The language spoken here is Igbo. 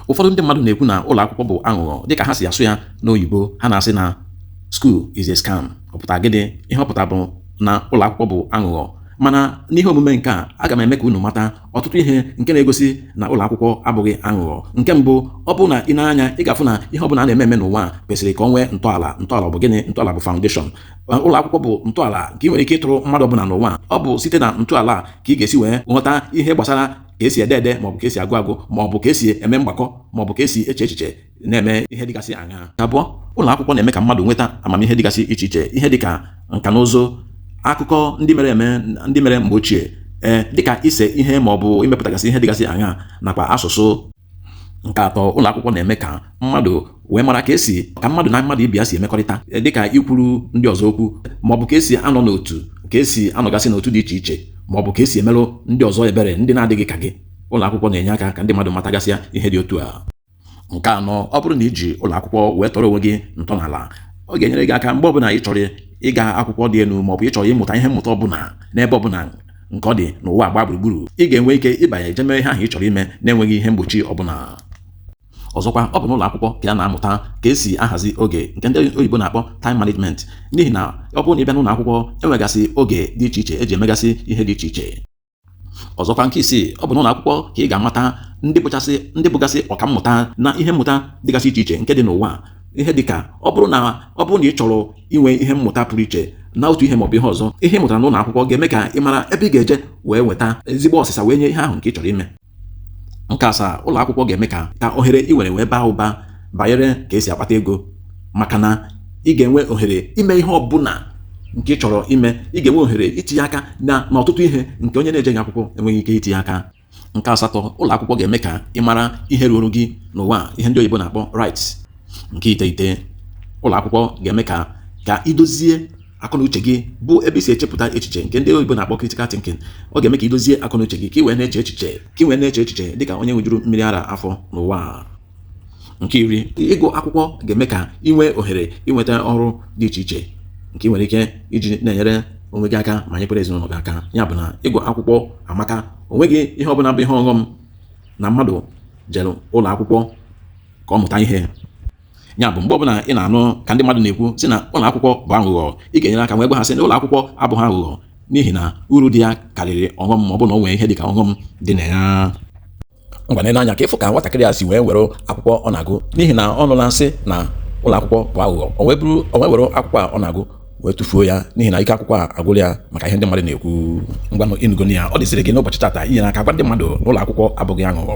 ụfọdụ ndị mmadụ na-ekwu na ụlọ akwụkwọ bụ aghụghọ dịka ha si asụ ya n'oyibo ha na-asị na school is a scam ọ pụtara gịnị ihe ọ pụtara bụ na ụlọ akwụkwọ bụ aghụghọ mana n'ihe omume nke a aga m eme ka unu mata ọtụtụ ihe nke na-egosi na ụlọ akwụkwọ abụghị aghụghọ nke mbụ ọ bụ na i nee anya ị ga-afụ na ihe ọ bụla a na-eme eme n'ụwa kwesịrị ka ọ nwee ntọala ntọala bụ gịnị ntọala bụ foundation ụlọ akwụkwọ bụ ntọala nke ị nwere ike ịtọrọ mmadụ ọbụla n'ụwa ọ bụ site na ntọala ka ị ga-esi wee ghọta ihe gbasara ka esi ede ede maọbụ ka esi agụ agụ maọbụ ka esi eme mgbakọ maọbụ ka esi eche echiche na-eme ihe dịgasị aṅaa abụọ ụlọ akwụkwọ na-eme ka mmadụ nweta amamihe dịgasị iche iche ihe dịka nka na ụzụ akụkọ ndị mere eme ndị mere mgbe ochie ee dịka ise ihe maọbụ imepụtagasị ihe dịgasị aṅaa nakwa asụsụ Nke atọ, ụlọ akwụkwọ na-eme ka mmadụ wee mara ka esi ka mmadụ na mmadụ ibe ya si emekọrịta e, dịka ikwuru ndị ọzọ okwu maọbụ ka esi anọ n'otu ka esi anọgasị n'otu dị iche iche maọbụ ka esi emerụ ndị ọzọ ebere ndị na-adịghị ka gị ụlọ akwụkwọ na-enye aka ka ndị mmadụ matagasịa ihe dị otu a nke anọ ọ bụrụ na i ji ụlọ akwụkwọ wee tọrọ onwe gị ntọala ọ ga-enyere gị aka mgbe ọbụla ị chọrọ ịga akwụkwọ dị elu maọbụ ị chọrọ ịmụta ihe mmụta ọbụla n'ebe ọbụla nke ọ dị n'ụwa gba gburugburu ị ga-enwe ike ịbanye je mee ihe ahụ ị chọrọ ime na-enweghị ihe mgbochi ọbụla ọzọkwa ọ bụ n'ụlọ akwụkwọ ka a na-amụta ka esi ahazi oge nke ndị oyibo na-akpọ time management n'ihi na ọ bụrụ na ị bịa n'ụlọ akwụkwọ enwegasị oge dị iche iche eji emegasị ihe dị iche iche ọzọkwa nke isii ọ bụ n'ụlọ akwụkwọ ka ị ga-amata ndị bụchasị ndị bụgasị ọkammụta na ihe mmụta dịgasị iche iche nke dị n'ụwa ihe dị ka ọ bụrụ na ọ bụrụ na ị chọrọ inwe ihe mmụta pụrụ iche na otu ihe maọbụ ihe ọzọ ihe ị mụtara n'ụlọ akwụkwọ ga-eme ka ị mara ebe ị ga-eje wee nweta ezigbo ọsịsa wee nye ihe ahụ nke ị chọrọ ime nke asaa ụlọ akwụkwọ ga-eme ka ka ohere ị nwere wee baa ụba banyere ka esi akpata ego maka na ị ga-enwe ohere ime ihe ọ bụla nke ị chọrọ ime ị ga-enwe ohere itinye aka na n'ọtụtụ ihe nke onye na-ejeghị akwụkwọ enweghị ike itinye aka Nke asatọ, ụlọ akwụkwọ ga-eme ka ị mara ihe ruuru gị n'ụwa ihe ndị oyibo na-akpọ rights. Nke iteghete, ụlọ akwụkwọ ga-eme ka ka i dozie akọnuche gị bụ ebe i si echepụta echiche nke ndị oyibo na-akpọ critical thinking. Ọ ga-eme ka i dozie akọnuche gị ka ị wee na-eche echiche ka ị wee na-eche echiche dị ka onye ṅụjuru mmiri ara afọ n'ụwa. nke iri ịgụ akwụkwọ ga-eme ka ị nwee ohere inweta ọrụ dị iche iche nke ị nwere ike iji na-enyere onwe gị aka ma nyekwara ezinụlọ gị aka ya bụ na ịgụ akwụkwọ amaka onweghị ihe ọbụla bụ ihe ọghọm na mmadụ jere ụlọ akwụkwọ ka ọ mụta ihe ya bụ mgbe ọbụla ị na-anụ ka ndị mmadụ na-ekwu sị na ụlọ akwụkwọ bụ aghụghọ ị ga-enyere aka wee gwa ha sị na ụlọ akwụkwọ abụghị aghụghọ n'ihi na uru dị ya karịrị ọghọm ma ọ bụ na o nwee ihe dị ka ọghọm dị na ya ngwa nene anya ka ị fụ ka nwatakịrị a si wee were akwụkwọ ọ na-agụ n'ihi na ọ nụla a sị na ụlọ akwụkwọ bụ aghụghọ o wee were akwụkwọ a ọ na-agụ wee tụfuo ya n'ihi na ike akwụkwọ a agwụla ya maka ihe ndị mmadụ na-ekwu ngwanụ ị nụgonụ ya ọ dịzịrị gị n'ụbọchị tata inyere aka gwa ndị mmadụ na ụlọ akwụkwọ abụghị aghụghọ